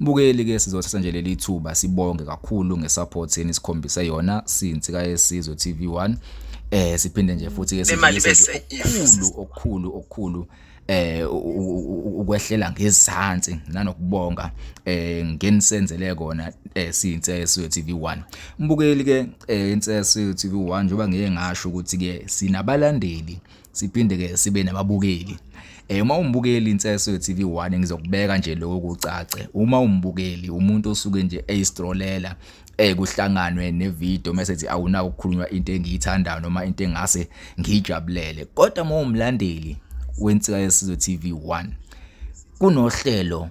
Mbukeli ke sizothatha nje leli thuba sibonge kakhulu ngesupport yeni sikhombise yona since kayesizwe TV1 eh siphinde nje futhi ke sizibuyise okukhulu okukhulu okukhulu eh ukwehlela ngezansi nanokubonga eh ngenisenzele kona eh siyinseso TV1 mbukeli ke eh insesi TV1 njoba ngeke ngasho ukuthi ke sinabalandeli siphinde ke sibe nababukeli eh uma umbukeli inseso ye TV1 ngizokubeka nje lokho kucace uma umbukeli umuntu osuke nje eyistrolela eh kuhlanganwe nevideo message awuna ukukhulunywa into engiyithandayo noma into engase ngijabulele kodwa uma umlandeli wensika yesizwe TV1 kunohlelo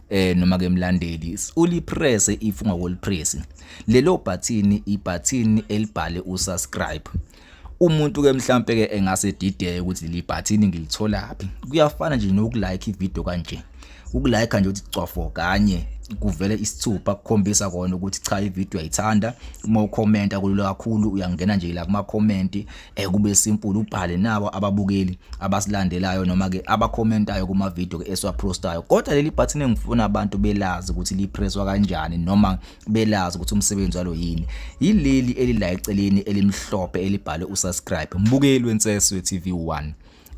eh noma ke mlandeli ulipresse if ungakolipress lelo bhathini ibhathini elibhale usubscribe umuntu ke mhlambe ke engase dideke ukuthi leli bhathini ngilitholaphi kuyafana nje nokulike ivideo kanje ukulike nje uthi cwafo kanye kuvele isithupha kukhombisa kona ukuthi cha ivideo ayithanda uma ukhomenta kulula kakhulu uyangena nje la kuma comment Eh kube simple ubhale nabo ababukeli abasilandelayo noma ke abacommentayo kuma video ke esiwaprostayo kodwa leli button engifuna abantu belazi ukuthi lipresswa kanjani noma belazi ukuthi umsebenzi walo yini yileli elila eceleni elimhlophe elibhale usubscribe mbukeli wenseswe TV1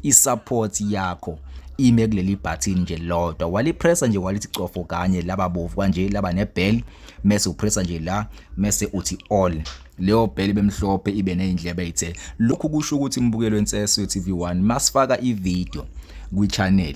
i-support yakho ime kuleli button nje lodwa walipressa nje walithi cofo kanye laba bovu kanje laba nebell mese upressa nje la mese uthi all leyo bheli bemhlophe ibe nezindlebe ezithe lokhu kusho ukuthi imbukelo enseswe TV1 masifaka ivideo kwichannel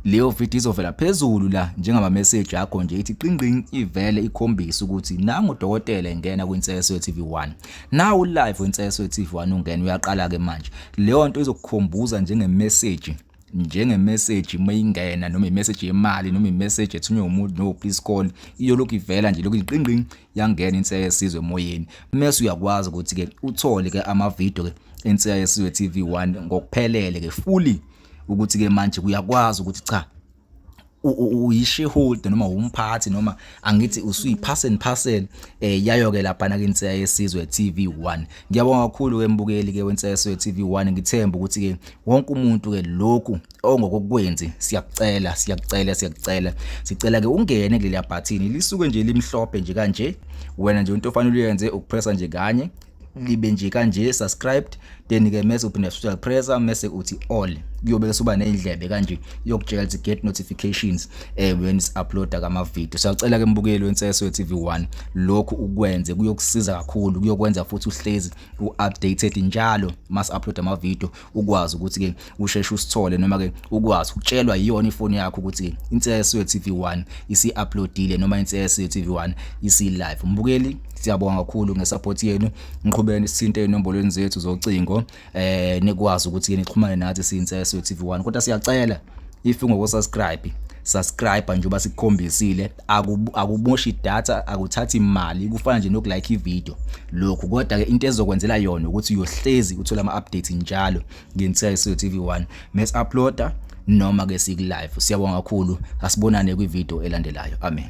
Leyo video izovela phezulu la njengama message akho nje ithi qingqing ivele ikhombisa ukuthi nangu dokotela engena kwiNseso TV1. Nawu live weNseso TV1 ungena uyaqala ke manje. Leyo nto izokukhombuza njenge message njenge message mayingena noma imessage yemali noma imessage ethunywe umuntu no please call iyolokhu ivela nje lokhu iqingqing yangena inseya yesizwe emoyeni mase uyakwazi ukuthi ke uthole ke ama video ke enseya yesizwe TV1 ngokuphelele ke fully ukuthi ke manje kuyakwazi ukuthi cha uyishareholder noma umphathi noma angithi usuyipass and parcel eh yayo ke lapha na kinse yesizwe TV1 ngiyabonga kakhulu ke mbukeli ke wenseswe TV1 ngithemba ukuthi ke wonke umuntu ke lokhu ongokokwenzi siyakucela siyakucela siyakucela sicela ke ungene kuleli bhathini lisuke nje limhlophe nje kanje wena nje into ofanele uyenze ukupressa nje kanye libe nje kanje subscribed then ke mese uphinda futhi uyapressa mese uthi all kuyobe kusuba nezindlebe kanje yokujela ukuthi get notifications eh when is uploada kama video siyacela ke mbukeli wenseso TV1 lokhu ukwenze kuyokusiza kakhulu kuyokwenza futhi uhlezi uupdated njalo mas upload ama video ukwazi ukuthi ke usheshe usithole noma ke ukwazi ukutshelwa iyona ifoni yakho ukuthi ke inseso yeTV1 isi-uploadile noma inseso yeTV1 isi-live mbukeli siyabonga kakhulu ngesupport yenu ngiqhubeni sithinte enombolweni zethu zocingo eh nikwazi ukuthi ke nixhumane nathi siyinseso yeTV1 kodwa siyacela if ungoko subscribe subscribe njengoba sikukhombisile akumoshi data akuthathi imali kufana nje nokulike ivideo lokhu kodwa ke into ezokwenzela yona ukuthi uyohlezi uthola ama-updates njalo ngensiya yesuyo tv 1 mes uploada noma ke siku-live siyabonga kakhulu asibonane kwivideo elandelayo amen